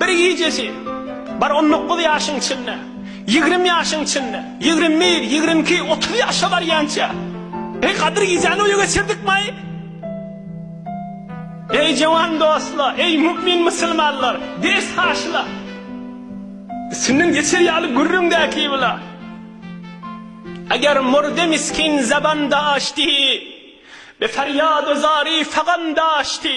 Bir gijesi, bar on dokuz ýaşyň içinde, ýigrimi ýaşyň içinde, ýigrimi bir, ýigrimi iki, otuz ýaşa barýança, Eý, Gadyr gijäni oýa geçirdikmaý? Eý, jöwan dostlar, eý, mu'min musulmanlar, ders haşyla, üstünden geçer ýaly gürrüň dä ki bula. Eger murdy miskin zaban daşdi, be ferýad-u zari fagan daşdi.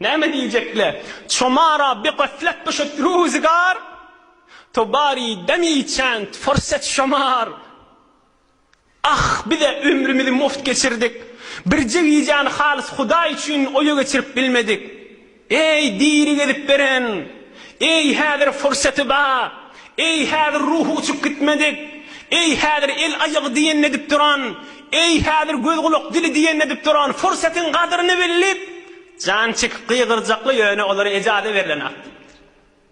Näme diýjek-le? Çomara bi gaflet düşüp ruzgar, To bari demi çand fursat şomar. Ah, biz-ä ömrümizi mugt geçirdik, Birje gijäni halys Hudaý üçin oýa geçirip bilmedik. Eý, diri gezip beren! Eý, häzir fursaty ba! Eý, häzir ruhy uçup gitmedik! Eý, häzir el-aýagy diýenini edip duran! Eý, häzir göz-gulak-dili diýenini edip duran pursatyň gadyryny bilip, jan çekip gygyrjakly, ýöne olara ejaza berlen ak diýipdir.